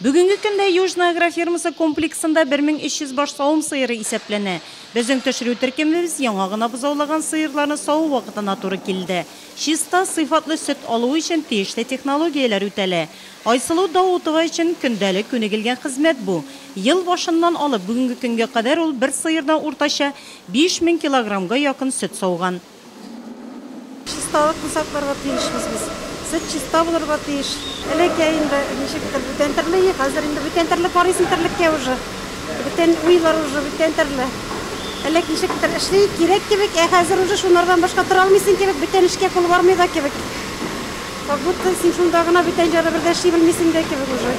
Бүгенге көндә Южная агрофирмасы комплексында 1300 баш савым сыеры исәпләнә. Безнең төшерү теркемебез яңа гына бозаулаган сыерларны саву вакытына туры килде. Чиста, сыйфатлы сөт алу өчен тиешле технологияләр үтәлә. Айсылу Даутова өчен көндәлек күнегелгән хезмәт бу. Ел башыннан алып бүгенге көнгә кадәр ул бер сыердан уртача 5000 килограммга якын сөт сауган. Чисталыкны сакларга тиешбез без. Сөт чиста булырга тиеш. Элеке инде ничектер бүтән төрле иде, хәзер инде бүтән төрле карыйсың терлеккә уже. Бүтән уйлар уже бүтән төрле. Элек ничектер эшли кирәк кебек, ә хәзер уже шунардан башка тора алмыйсың кебек, бүтән эшкә кул бармый да кебек. Как будто син шунда гына бүтән җаны бер дә эшли белмисең дә кебек уже.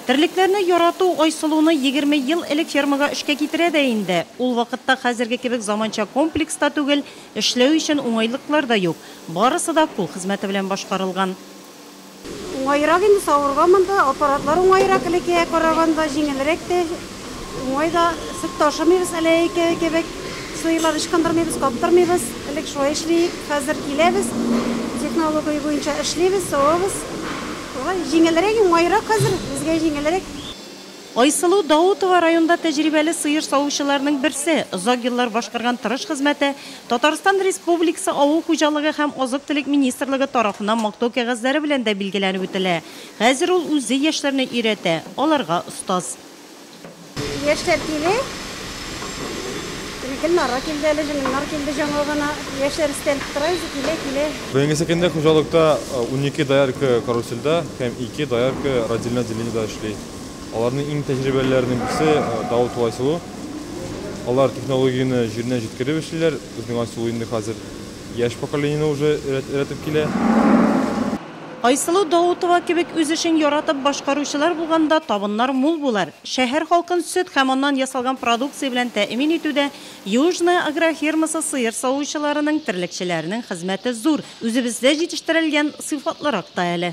Терлекләрне ярату Айсылуны егерме ел элек фермага эшкә китерә дә инде. Ул вакытта хәзерге кебек заманча комплекс та түгел, эшләү өчен уңайлыклар да юк. Барысы да кул хезмәте белән башкарылган. Уңаерак инде савырга монда, аппаратлар уңаерак, элеккегә караганда җиңелрәк тә. Уңай да, сөт ташымыйбыз әле әйке кебек. Сыерлар ычкындырмыйбыз, каптырмыйбыз. Элек шулай эшлиек, хәзер киләбез, технология буенча эшлибез, савабыз. Шулай җиңелрәк, уңайрак хәзер, безгә җиңелрәк. Айсылу Даутова районда тәҗрибәле сыер савучыларның берсе. Озак еллар башкарган тырыш хезмәте Татарстан Республикасы Авыл хуҗалыгы һәм азык-төлек министрлыгы тарафыннан мактау кәгазьләре белән дә билгеләнеп үтелә. Хәзер ул үзе яшьләрне өйрәтә, аларга остаз. Яшьләр киле. Гөлнара килде әле, Гөлнар килде жаңа гына. Яшьләр истәлеп тора, үзе килә, килә. Бүгенге көндә хуҗалыкта 12 доярка карусельдә һәм 2 доярка родильный отделениедә эшли. Аларның иң тәҗрибәлеләренең берсе Давыт һәм Айсылу. Алар технологияне җиренә җиткереп эшлиләр. Безнең Айсылу инде хәзер яшь поколениене уже өйрәтеп килә. Айсылу Даутова кебек үз эшен яратып башкаручылар булганда табыннар мул булыр. Шәһәр халкын сөт һәм аннан ясалган продукция белән тәэмин итүдә Южная агрофермасы сыер савучыларының, терлекчеләренең хезмәте зур. Үзебездә җитештерелгән сыйфатлырак та әле.